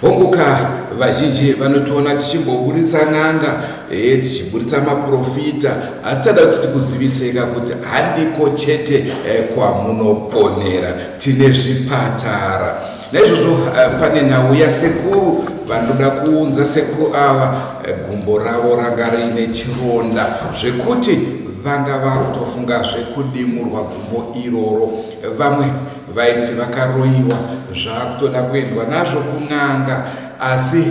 Hongu ka, vazhinji vanotiona tichimboburitsa n'anga, eh, tichiburitsa maprofita, asi tada kuti tikuziviseka kuti handiko chete eh, kwamunoponera, tine zvipatara. Naizvozvo eh, pane nhau yasekuru vanoda kuunza sekuru ava, eh, gumbo ravo ranga riine chironda zvekuti vanga vakutofunga zvekudimurwa gumbo iroro vamwe Vaiti vakaroyiwa zvakutoda kuendwa nazvo kun'anga asi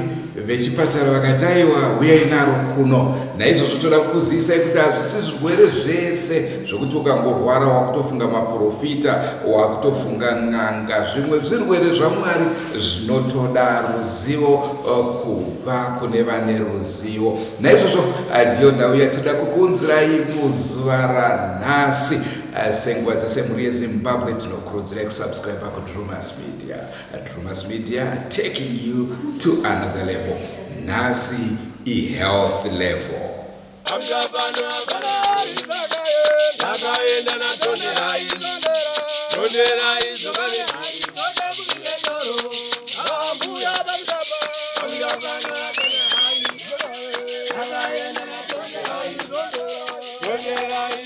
vechipatara vakati aiwa huyai naro kuno. Naizvozvo toda kukuzivisai kuti hazvisi zvirwere zvese zvokuti ukangorwara wakutofunga maporofita, wakutofunga n'anga. Zvimwe zvirwere zvaMwari zvinotoda ruzivo eh, kubva kune vane ruzivo. Naizvozvo eh, ndiyo nhau yatinoda kukuunzirai muzuva ranhasi. Eh, sengwadza semhuri yezimbabwe tinokurudzirai kusubscriba kudrumas media eh, drumas media taking you to another level nhasi ihealth level Yeah.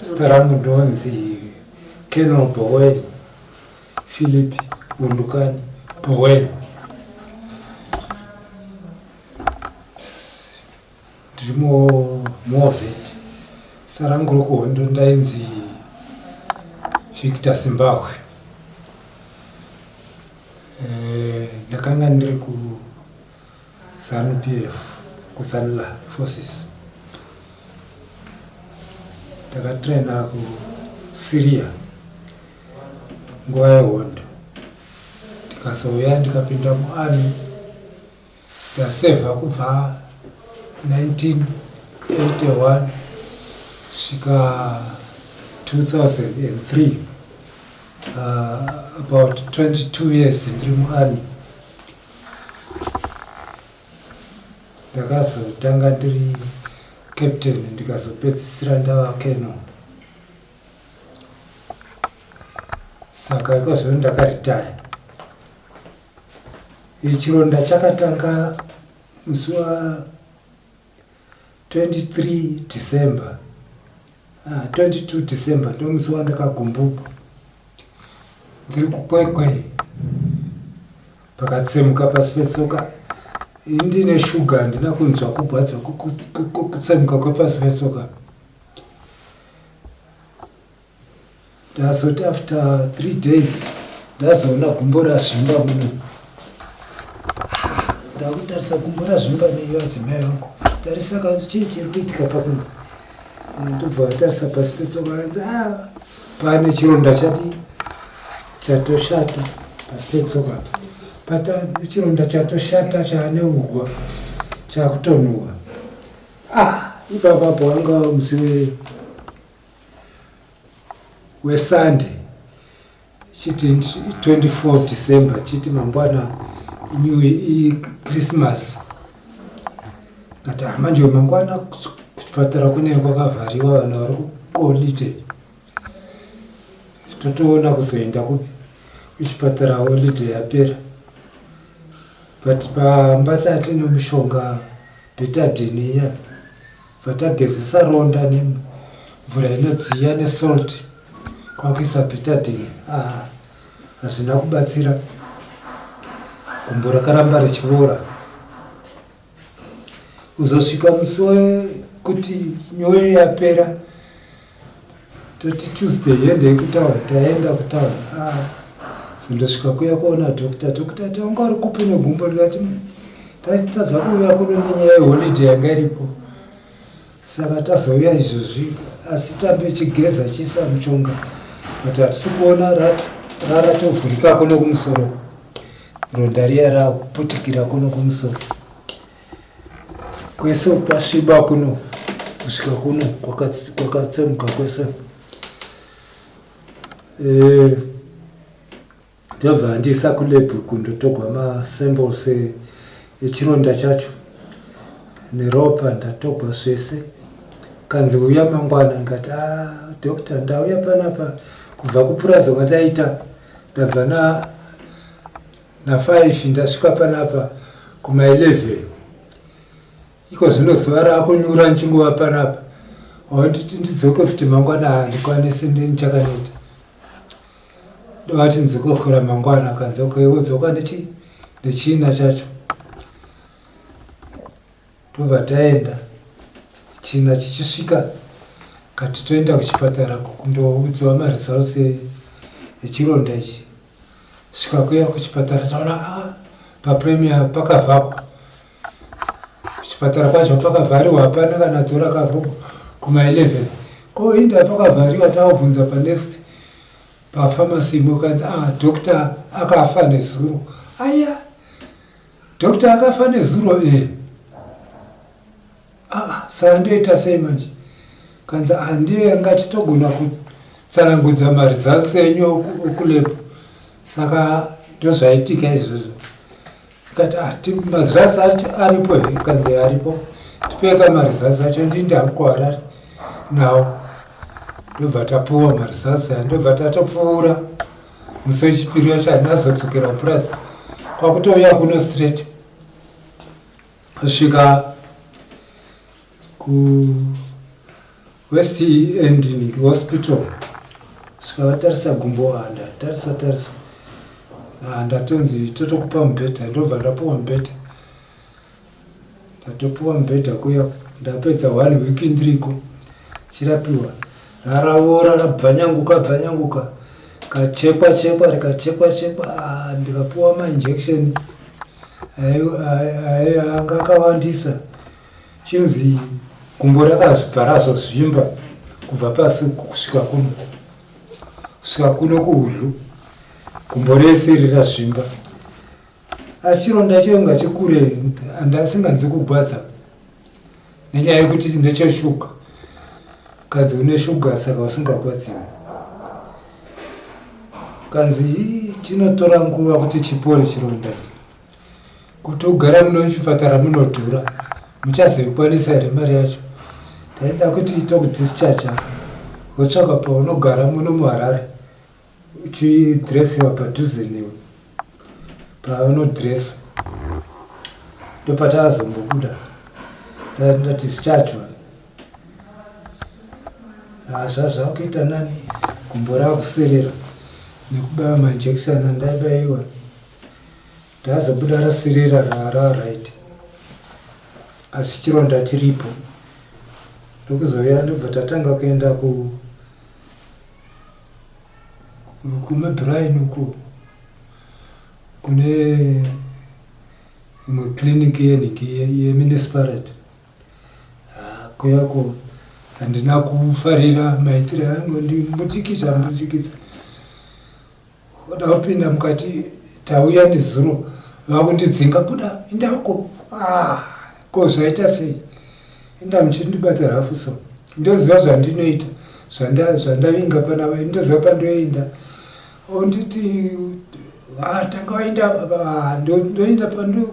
zita rangu ndonzi kenol bowen philip undukani bowen Ndiri mu Movet. Zita rangu rokuhondo ndainzi Victor Simbahwe. Eh, ndakanga ndiri ku Zanu PF, ku Zanla Forces. Ndakatraina ku Syria nguva yehondo ndikazouya ndikapinda muarmy Ndasevha kubva 1981 svika 2003 uh, about 22 years ndiri muarmy ndakazotanga ndiri captain ndikazopedzisira ndava keno saka ikozvino ndakaritaya Chironda chakatanga musi wa 23 December uh, ah, 22 December ndo musi wandakagumbuka ndiri kukwekwe pakatsemuka pasi petsoka ndine shuga handina kunzwa kugwadza kutsemuka kwepasi petsoka Ndazoti after three days ndazoona gumbo razvimba muno ndakutarisa gumbo razvimba neiyo adzimai vangu tarisa kanzi chii chiri kuitika pakuno eh, ndobva vatarisa pasi petsoka kanzi a ah, pane chironda chadii chatoshata pasi petsoka pata chironda chatoshata chaane uhwa chakutonhuhwa ah ipapapo anga musiwe wesunday chiti 24 december chiti mangwana new ichristmas but hamanje mangwana kuchipatara kunenge kwakavhariwa vanhu vari kukolite totoona kuzoenda kupi kuchipatara holide yapera but pamba tati nemushonga betadini iya yeah. Bva tagezesa ronda nemvura inodziya nesalt kwakuisa betadine. Ah, hazvina kubatsira. Gumbo rakaramba richiboora. Uzosvika musi wekuti nyoyo yapera. toti tuesday yendei kutown taenda kutown ah, so ndosvika kuya kuona doctor doctor ti wanga uri kupi negumbo ndikati mm, tatadza kuuya kuno nenyaya yeholiday yanga iripo saka tazouya izvozvi asi tambe chigeza chiisa muchonga but hatisi kuona raratovhurika kuno kumusoro ronda riya rakuputikira kuno kumusoro Kwese kwasviba kuno kusvika kuno kwakatsemuka kwese eh, ndabva e, andiisa kulebhu kundotogwa masamples e, echironda chacho neropa ndatogwa zvese kanzi uya mangwana ndikati ah, doctor ndauya panapa kubva kupuraza kwataita ndabva na Na five ndasvika panapa kuma eleven iko zvino zuva rakunyura ndichingova panapa wanditi ndidzoke futi mangwana handikwanisi ndichakaneta ndovati ndzokokhora mangwana kanzoke wodzoka nechi nechina chacho tobva taenda china chichisvika kati toenda kuchipatara kundoudziwa maresults echironda ichi Sikakuya kuchipatara taona ah, papremier pakavhakwa kuchipatara kwacho pakavhariwa hapana kana dzora kavhuku kuma 11 ko inda pakavhariwa taubvunza panext pafamasi imwe ukanzi ah, doctor akafa nezuro aya doctor akafa nezuro e eh. Aah saka ndoita sei manje kanzi handie anga achitogona kutsanangudza maresults enyu okulab saka ndozvaitika izvozvo kati ah, maresults acho aripo here kanzi aripo tipeka maresults acho ndinde hangu kuharare nawo ndobva tapuwa maresults aya ndobva tatopfuura musi wechipiri wacho handinazodzokera kupurasi kwakutouya kuno straight kusvika ku west end hospital kusvika vatarisa gumbo handatarisa tarisa handatonzi totokupa mubhedha ndobva ndapuwa mubhedha ndatopuwa mubhedha kuya ndapedza one week ndiriko chirapiwa raravora rabvanyanguka bvanyanguka kachekwa chekwa rikachekwa chekwa ah, ndikapuwa mainjection anga akawandisa chinzi gumbo rakazvibva razozvimba kubva pasi kusvika kuno kusvika kuno kuhudyu gumbo rese iri razvimba asi chironda chainga chikure andasinganzi kugwadza nenyaya yekuti ndecheshuga kanzi une shuga saka usingakwadziwi kanzi chinotora nguva kuti chipore chironda ichi kuti ugara muno muchipatara munodhura muchazoikwanisa here mari yacho taida kuti tokudischarger wotsvaka paunogara muno muharare uchidressewa padhuze newe paunodresswa ndopatakazombobuda ndatischachwa hazva zvakuita nani gumbo rakuserera nekubaya mainjection andaibayiwa ndazobuda raserera rara right asi chironda chiripo ndokuzouya ndobva tatanga kuenda ku Kuma Brian uko kune imwe clinic yeniki yemunicipality ah, kuyako handina kufarira maitire angu ndimbutikidza mbutikidza Voda kupinda mukati tauya nezuro vakundidzinga buda inda uko ah, ko zvaita sei inda muchindibata rafu so ndoziva zvandinoita zvandavinga pana vaini ndoziva pandoenda onditi ah, tanga vaenda ah, ndoenda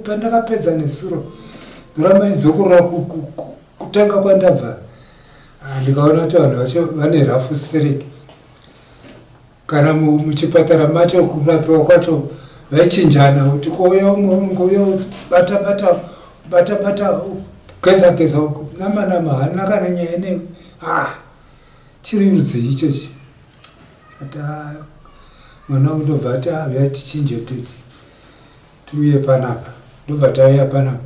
pandakapedza nezuro ndoramba idzokorora kutanga kwandabva ndikaona kuti vanhu vacho vane rafu stereki kana muchipatara macho kurapiwa kwacho vaichinjana kuti kouya umwe unenge uya batabata batabata geza geza uku nama nama hanina kana nyaya ineyo ah chiri rudzii ichochi ata mwana wangu ndobva ati avuya ah, tichinje titi tiuye panapa ndobva tauya panapa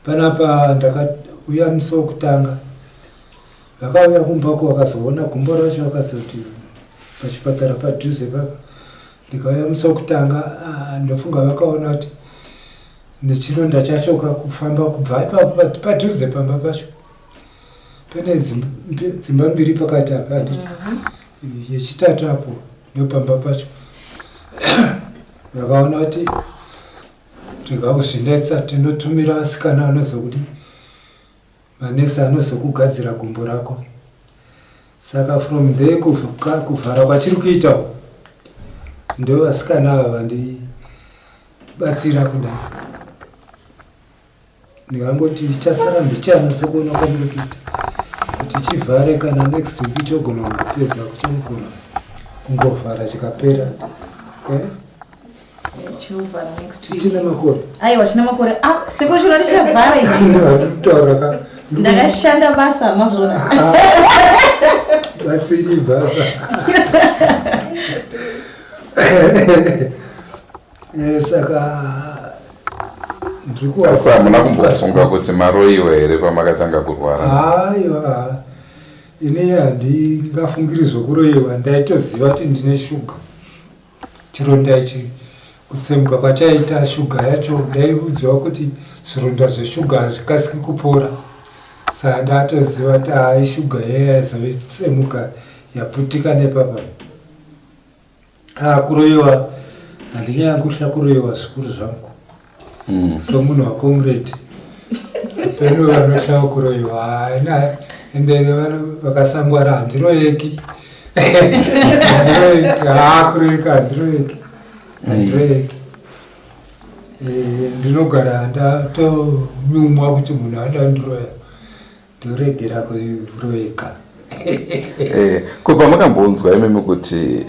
Panapa ndakauya musi wekutanga vakauya kumbako vakazoona gumbo racho vakazoti pachipatara padhuze papa ndikauya musi wekutanga ah, ndofunga vakaona kuti nechironda chacho kakufamba kubva ipapo padhuze pamba pacho pane dzimba mbiri pakati apa handiti yechitatu apo ndopamba pacho vakaona kuti Rega kuzvinetsa tinotumira asikana anozokudi manesi anozokugadzira gumbo rako saka from there kuvhara kwachiri kuita ndo vasikana ava vandibatsira kudai ndikangoti chasara mbichana sekuona kwandiri kuita kuti chivhare kana next week chogona kungopedza kuchogona kungovhara chikapera eh? chichine makore aiwa chine makore ah, sekuru chiro chichavhara ichi ndikutaura ka ndakashanda basa mazvona ah, batsiri basa Eh, saka asi hamuna kumbofunga kuti maroyiwa here pamakatanga kurwara aiwa ini handingafungiri zvekuroyiwa ndaitoziva kuti ndine shuga chironda ichi kutsemuka kwachaita shuga yacho ndaiudziwa kuti zvironda zveshuga hazvikasiki kupora saka ndatoziva kuti hayi shuga yeye yaizove tsemuka yaputika nepapa Ah, kuroyiwa handinyanyi kuhla kuroyiwa zvikuru zvangu mm. somunhu wacomrade peno vanohlawo kuroyiwa ina ende vakasangwara handiroyeki handiroyeki haa ah, kuroyeka handiroyeki mm. handiroyeki eh, ndinogara ndatonyumwa kuti munhu anoda ndiroya Dhuredi rako roeka. Eh, ko pamakambonzwa imimi kuti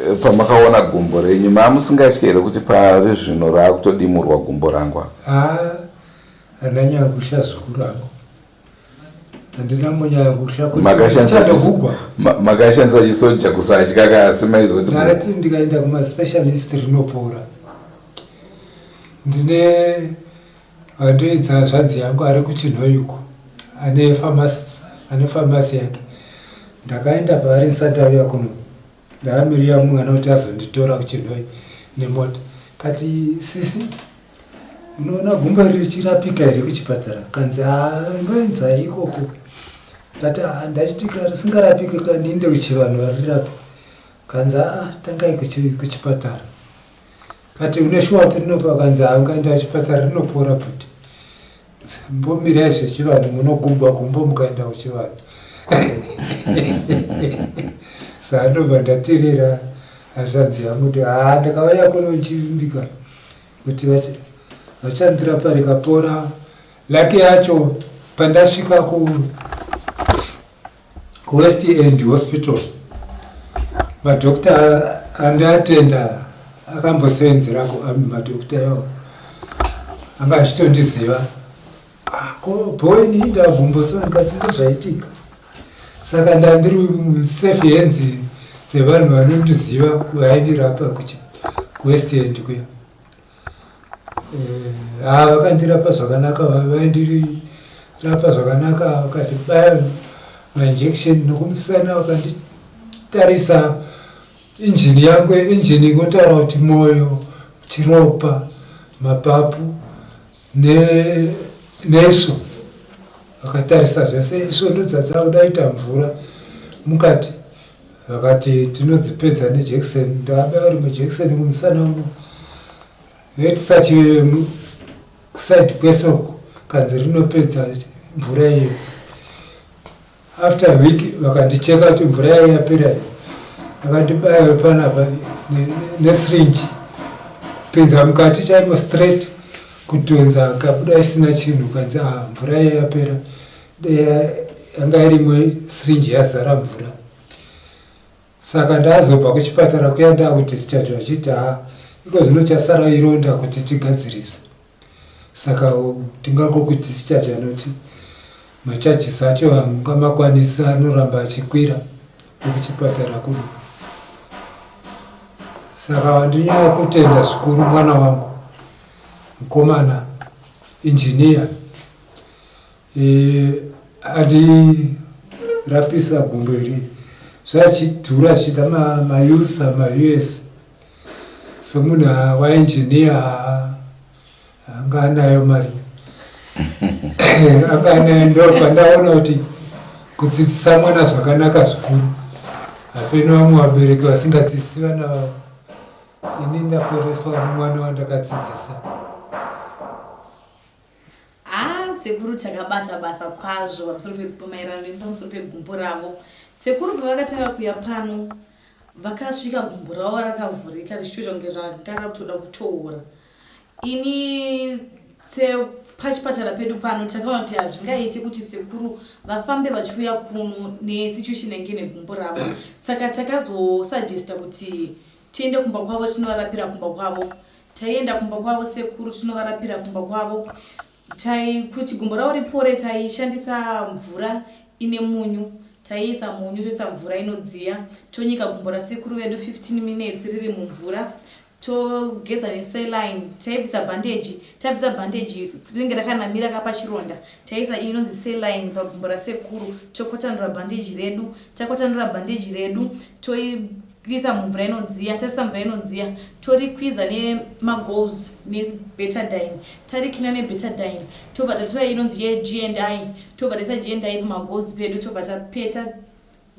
eh, pamakaona gumbo renyu maamusingatye here kuti pari zvino raakutodimurwa gumbo rangwa? Ah, ananyaya kusha zuku rangu handina munyaya kuhla kutichadogugwa makashandisa chisoja kusatya kasi maizoti ngati ndikaenda kumaspecialist rinopora ndine Vandoidza hazvanzi yangu ari kuChinhoyi uko ane pharmacy, ane pharmacy yake. Ndakaenda paari ndisati aviya kuno ndakamirira mwana kuti azonditora kuChinhoyi nemota. Kati sisi unoona gumbo iri richirapika here kuchipatara? Kanzi haa ndoenza ikoko. Ndati haa ndachitika risingarapike kandiinde kuchivanhu varirapa. Kanzi haa tangai kuchipatara. But une shuwa kuti rinopora vakanzi haangaenda achipatara rinopora but mbomirai zvechivanhu munogubwa kumbo mukaenda kuchivanhu saa ndobva ndaterera hazvanzi yangu kuti haa ndakavaya kuno ndichivimbika kuti vachandira pari kapora lake yacho pandasvika ku kuwest end hospital madokta andiatenda akambosevenzera kuami madokta yavo anga achitondiziva ah, ko boweni ndagumboso ndikati ndozvaitika saka ndandiri safe hands dzevanhu vanondiziva vaindirapa kuwest end kuya Eh, haa vakandirapa zvakanaka vaindirapa zvakanaka vakandibaya mainjection nokumusana vakanditarisa injini yangu injini ingotaura kuti mwoyo chiropa mapapu nesu vakatarisa zvese isvo ndodzadza kudaita mvura mukati vakati tinodzipedza nejekiseni ndakabaiwa rimwe jekiseni kumusana uno vetisachive kusaidi kwesoko kanzi rinopedza mvura iyo after week vakandicheka kuti mvura yayo yapera iyo vakandibaya wepanapa nesirinji pinza mukati chaimo straight kutonza kabuda isina chinhu kanzi ah, mvura yayo yapera yanga irimwe syringe yazara mvura saka ndazobva kuchipatara kuya ndakudischarge vachiti ha iko zvino chasara ironda kuti tigadzirise saka tingangokudischarge anoti macharges acho hamunga makwanisi anoramba achikwira nekuchipatara kuno saka wandinyaya kutenda zvikuru mwana wangu mukomana injiniya Eh adi rapisa gumbo iri zvachidhura zvida ma ma user ma us somunhu wa engineer anga anayo mari anga anayo ndopandaona kuti kudzidzisa mwana zvakanaka zvikuru hapeno vamwe vabereki vasingadzidzisi vana vavo ini ndapereswa nemwana wandakadzidzisa Haa sekuru takabata basa kwazvo pamusoro pemaererano nepamusoro pegumbo ravo. Sekuru pavakatanga kuya pano vakasvika gumbo ravo rakavhurika richitoita kunge ranga rakutoda kutoora. Ini sepachipatara pedu pano takaona kuti hazvingaite kuti sekuru vafambe vachiuya kuno nesituation yange negumbo ravo. Saka takazosuggesta kuti tiende kumba kwavo tinovarapira kumba kwavo. Taienda kumba kwavo sekuru tinovarapira kumba kwavo. Tai kuti gumbo ravo ripore taishandisa mvura ine munyu. Taiisa munyu toisa mvura inodziya tonyika gumbo rasekuru vedu 15 minutes riri mumvura togeza nesaline taibvisa bhandeji tabvisa bhandeji rinenge rakanamira kapa chironda taisa inonzi saline pagumbo rasekuru tokwatanura bhandeji redu takwatanura bhandeji redu toibvisa Kwiza mumvura inodziya, tarisa mvura inodziya, torikwiza nemagoals nebetadine, tariklina nebetadine, tobva tatora inonzi yeGNI, tobva taisa GNI pamagoals pedu, tobva tapeta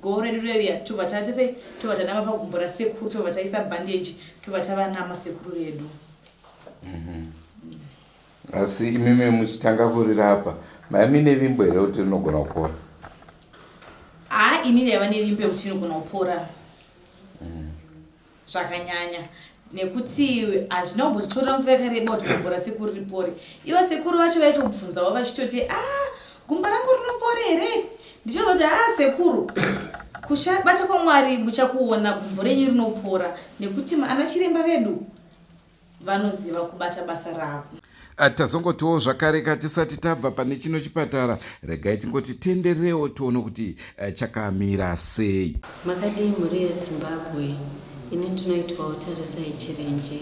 goal redu reria, tobva tatese, tobva tanama pagumbo rasekuru, tobva taisa bandage, tobva tavanama sekuru vedu. mm -hmm. Asi imimi muchitanga kurira apa mai mine vimbo here kuti rinogona kupora? Haa ini ndaiva nevimbo yekuti rinogona kupora mm. zvakanyanya nekuti hazvina kumbotitorera nguva yakareba kuti gumbo rasekuru ripore ivo sekuru vacho vaitobvunzawo vachitoti a ah, gumbo rangu rinopore here ndichazoti a ah, sekuru kushabata kwamwari muchakuona gumbo renyu rinopora nekuti ana chiremba vedu vanoziva kubata basa ravo Ah, tazongotiwo zvakareka tisati tabva pane chino chipatara regai tingoti tendererewo tione kuti eh, chakamira sei makadii mhuri yezimbabwe ini ndinoitwawo tarisai chirenje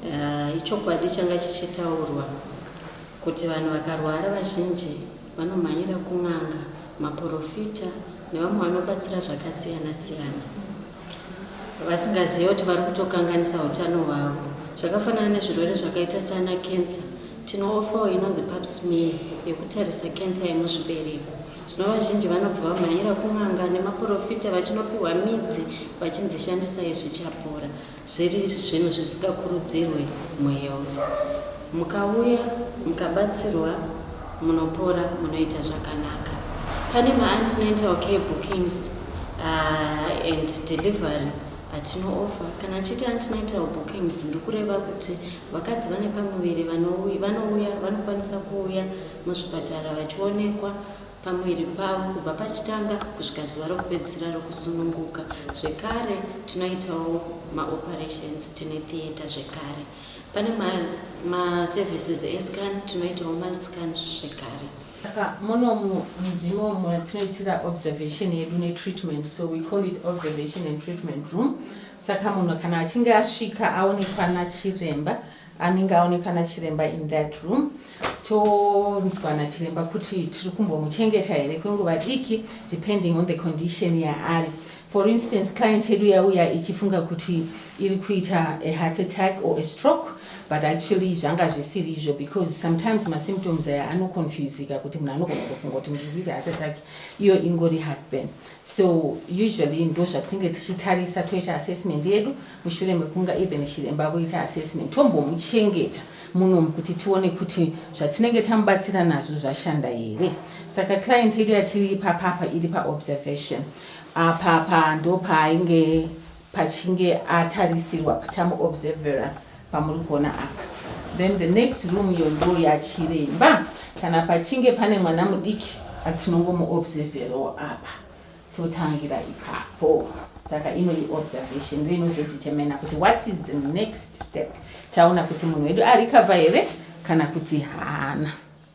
uh, ichokwadi changa chichitaurwa kuti vanhu vakarwara vazhinji vanomhanyira kun'anga maporofita nevamwe vanobatsira zvakasiyana siyana vasingazive kuti vari kutokanganisa utano hwavo zvakafanana nezvirwere zvakaita sana kensa tinoofawo inonzi pap smear yekutarisa kensa yemuzvibereko zvino vazhinji vanobva vamhanyira kun'anga nemaporofita vachinopiwa midzi vachinzi shandisai zvichapora zviri zvinhu zvisingakurudzirwe muhealth mukauya mukabatsirwa Munopora munoita zvakanaka. Pane ma antenatal okay bookings uh, and delivery atino offer. Kana achiti antenatal bookings ndikureva kuti vakadzi vane pamuviri vanouya vanokwanisa kuuya muzvipatara vachionekwa pamuviri pavo kubva pachitanga kusvika zuva rokupedzisira rokusununguka zvekare tinoitawo maoperations tine theatre zvekare Pane ma ma services e scan tinoitawo ma scan zvekare. Saka muno mudzimu matinoitira observation yedu ne treatment so we call it observation and treatment room. Saka munhu kana achinge asvika aonekwa nachiremba anenge aonekwa nachiremba in that room. tonzwa nachiremba kuti tiri kumbomuchengeta here kwenguva diki depending on the condition yaari for instance client yedu yauya ichifunga kuti iri kuita a heart attack or a stroke but actually zvanga zvisiri izvo because sometimes masymptoms aya anoconfusika kuti munhu anogona kutofunga kuti ndiri kuita heart attack iyo ingori heartburn so usually ndo zvatinge tichitarisa toita assessment yedu mushure mekunga even chiremba voita assessment tombomuchengeta munomu kuti tione kuti zvatinenge tamubatsira nazvo zvashanda here saka client yedu yatiri ipapapa iri paobservation apapa ndopaainge pachinge atarisirwa tamu observera pamuri kuona apa then the next room iyo ndo yachiremba kana pachinge pane mwana mudiki atinongomuobserverowo apa totangira ipapo saka ino iobservation ndo inozotitemena kuti what is the next step taona kuti munhu wedu arikava here kana kuti haana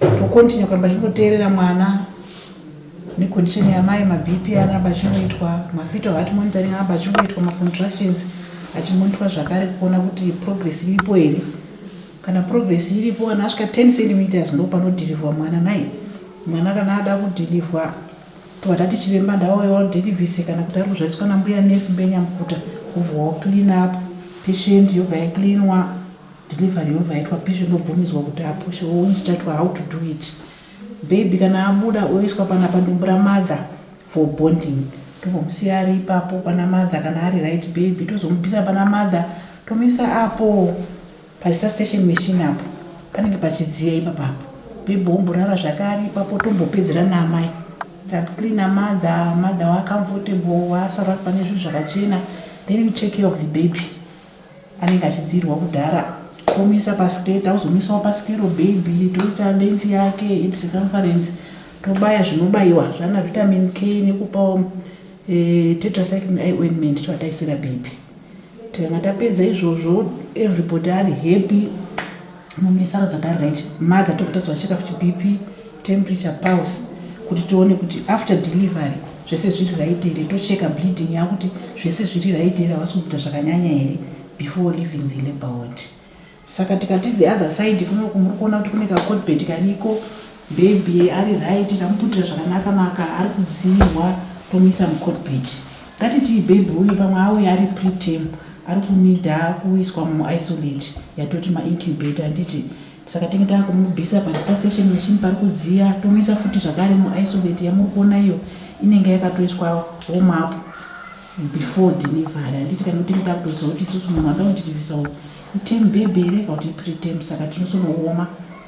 tokontinye kuramba tichingoteerera mwana necondition yamai mabp anoramba achingoitwa mafetal heart monitoring aramba achingoitwa macontractions achimonitwa zvakare kuona kuti progress iripo here kana progress iripo kana asvika 10 centimeters ndo panodhirivhwa mwana nai mwana kana ada kudhirivhwa tovatati chiremba ndaoyodhirivhise kana kuti ari kuzvaiswa nambuya nesi mbenyamukuta kuvhawo clean up patient yobva yacleanwa Delivery yobva yaitwa patient ndobvumidzwa kuti apushe or instructwa how to do it. Baby kana abuda oiswa panapa ndobura mother for bonding. Tombomusiya ari ipapo pana mother kana ari right baby tozomubvisa pana mother tomuisa apo paresuscitation machine apo panenge pachidziya ipapa apo. Baby omborara zvake ari ipapo tombopedzera naamai. Takucleaner mother, mother wacomfortable wasara pane zvinhu zvakachena then you take care of the baby. anenge achidziirwa kudhara omisa paskate auzomisawo paskero baby toita length yake hip circumference tobaya zvinobaiwa zvana vitamin k nekupawo eh, tetracycline i ointment toataisira baby tikanga tapedza izvozvo everybody ari happy Mumwe sara dzakari right ma dzatiri kutadzwa cheka futi bp temperature pulse kuti tione kuti after delivery zvese zviri right here tocheka bleeding yakuti zvese zviri right here havasi kubuda zvakanyanya here before leaving the labor ward saka tikati the other side kunoku muri kuona kuti kune kacodbet kariko Baby ari right tamuputira zvakanaka maka ari kudziirwa tomuisa mucockpit. Ngatitii baby uyu pamwe auya ari preterm ari kunida kuiswa muisolate yatoti maincubator handiti saka tinge tava kumubvisa padisustation machine pari kudziya tomuisa futi zvakare muisolate yamuri kuona iyo inenge yakatoiswa warm up before delivery handiti kana tinge tava kutoziva kuti isusu munhu anoda kutitivisa uyu item baby here ka kuti ipreterm saka tinosonooma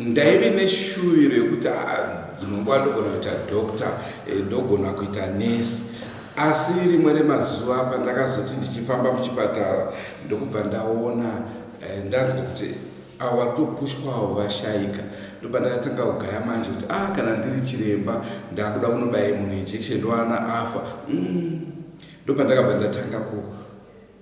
Ndaive neshuviro yekuti haa dzimwe nguva ndogona kuita doctor eh, ndogona kuita nurse asi rimwe remazuva pandakazoti ndichifamba muchipatara ndokubva ndaona eh, ndanzwa kuti avo vari kutopushwawo vashaika ndopandakatanga kugaya manje kuti a ah, kana ndiri chiremba ndakuda kunobaye munhu injection ndoana afa mm. ndopandakabva ndatanga ku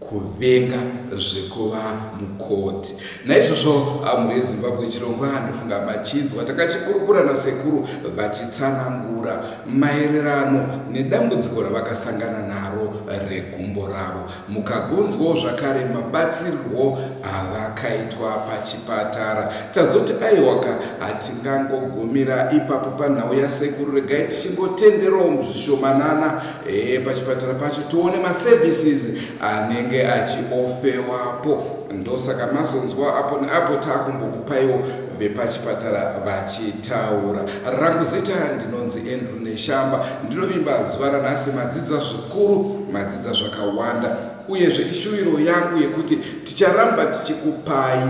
kuvenga zvekuva mukoti. Naizvozvo mhuri yeZimbabwe chirongwa ndofunga machinzwa takachikurukura nasekuru vachitsanangura maererano nedambudziko ravakasangana naro regumbo ravo. Mukagonzwawo zvakare mabatsirirwo avakaitwa pachipatara. Tazoti aiwaka hatingangogumira ipapo panhau yasekuru regai tichingotenderawo muzvishomanana e, pachipatara pacho tione maservices anenge achiofewapo ndosaka mazonzwa apo neapo taakumbokupaiwo vepachipatara vachitaura rangu zita ndinonzi andrew neshamba ndinovimba zuva ranhasi madzidza zvikuru madzidza zvakawanda Uyezve ishuviro yangu yekuti ticharamba tichikupai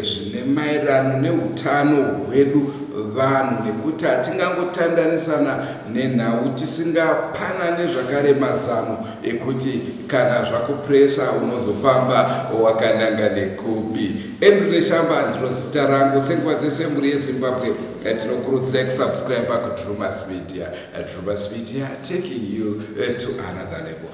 zvine maererano neutano hwedu vanhu nekuti hatingangotandanisana nenhau tisingapanane zvakare mazano ekuti kana zvakupresa unozofamba wakananga nekupi andrew neshamba ndiro zita rangu senguva dzese mhuri yezimbabwe eh, tinokurudzirai kusubscribe kudrumas media eh, drumas media taking you eh, to another level